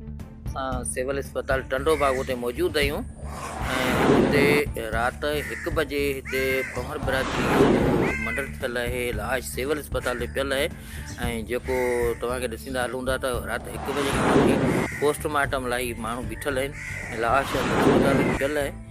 اسان سول اسپتال ٽنڊو باغ اتي موجود آهيون ۽ اتي رات هڪ بجي هتي پنور برادري جو جيڪو منڊر ٿيل آهي لاش سول اسپتال تي پيل آهي ۽ جيڪو توهان کي ڏسندا هلون ٿا ته رات هڪ بجي کان وٺي پوسٽ مارٽم لاء ماڻهو بيٺل آهن لاش اسپتال تي پيل آهي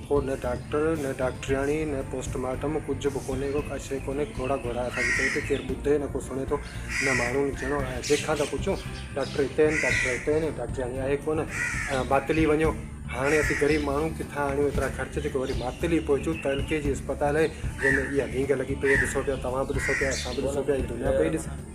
ڪو نه ڊاڪٽر نه ڊاڪٽرياڻي نه پوسٽ مارٽم ڪجهه به ڪونهي ڪو ڪا شيء ڪونهي گهوڙا گهوڙا اسان جي پيٽ ڪير ٻڌي نه ڪو سڻي ٿو نه ماڻهو نه چيڻو ۽ جنهن کان ٿا پڇون ڊاڪٽر هتي آهن ڊاڪٽر هتي آهن ڊاڪٽرياڻي آهي ڪونه ۽ ماتلي وڃو هاڻي اسين غريب ماڻهو ڪٿان آڻيون ايترا خرچ جيڪو وري ماتلي پهچون ته ايل ڪي جي اسپتال آهي جنهن ۾ اها وينگ لڳي پئي آهي ڏسو پيا توهان به ڏسو پيا اسان به ڏسو پيا هي دنيا پئي ڏسي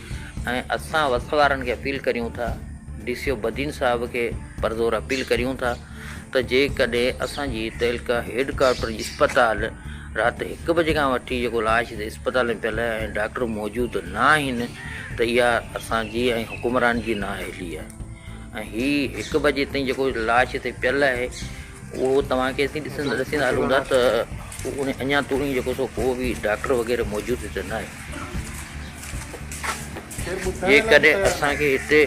۽ اسان وقت وارن کي اپيل ڪريون ٿا، ڊي سي او بدين صاحب کي پرزور اپيل ڪريون ٿا ته جيڪڏهن اسان جي تعلقه هيڊ ڪوارٽر جي اسپتال رات هڪ بجي کان وٺي جيڪو لاش هتي اسپتال ۾ پيل آهي ۽ ڊاڪٽر موجود نه آهن ته اها اسان جي ۽ حڪمران جي نااهلي آهي ۽ هي هڪ بجي تائين جيڪو لاش هتي پيل آهي اهو توهان کي اسين ڏسندا ڏسيندا هلون ٿا ته ان اڃا توڻي جيڪو سو ڪو به ڊاڪٽر وغيره موجود هتي ناهي. جيڪڏهن اسان کي هتي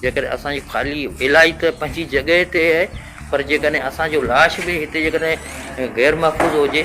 جيڪڏهن اسان جي خالي علاج ته پنهنجي جڳهه تي آهي پر جيڪڏهن اسان جو لاش به هتي جيڪڏهن غير محفوظ هجي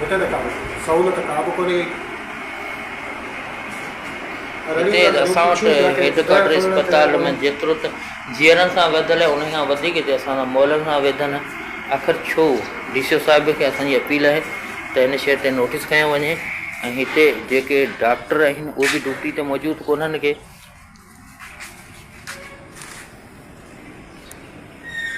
هتي ته ڪابه سهولت ڪا به ڪونهي هئي. رڙيون هتي ته ڪرڻ اسان وٽ پڇيون پيا ڪين. هيڊڪوارٽر زهر کڻڻ ته اسپتال ۾ ڪونه. جيترو ته جيئرن سان ويڌل آهي انهيء کان وڌيڪ هتي اسان سان مئلن سان ويڌن آهي. آخر ڇو؟ ڊي سي او صاحب کي اسان جي اپيل آهي ته هن شيء تي نوٽيس کنيو وڃي ۽ هتي جيڪي ڊاڪٽر آهن اهي به ڊيوٽي تي موجود ڪونهن ڪي.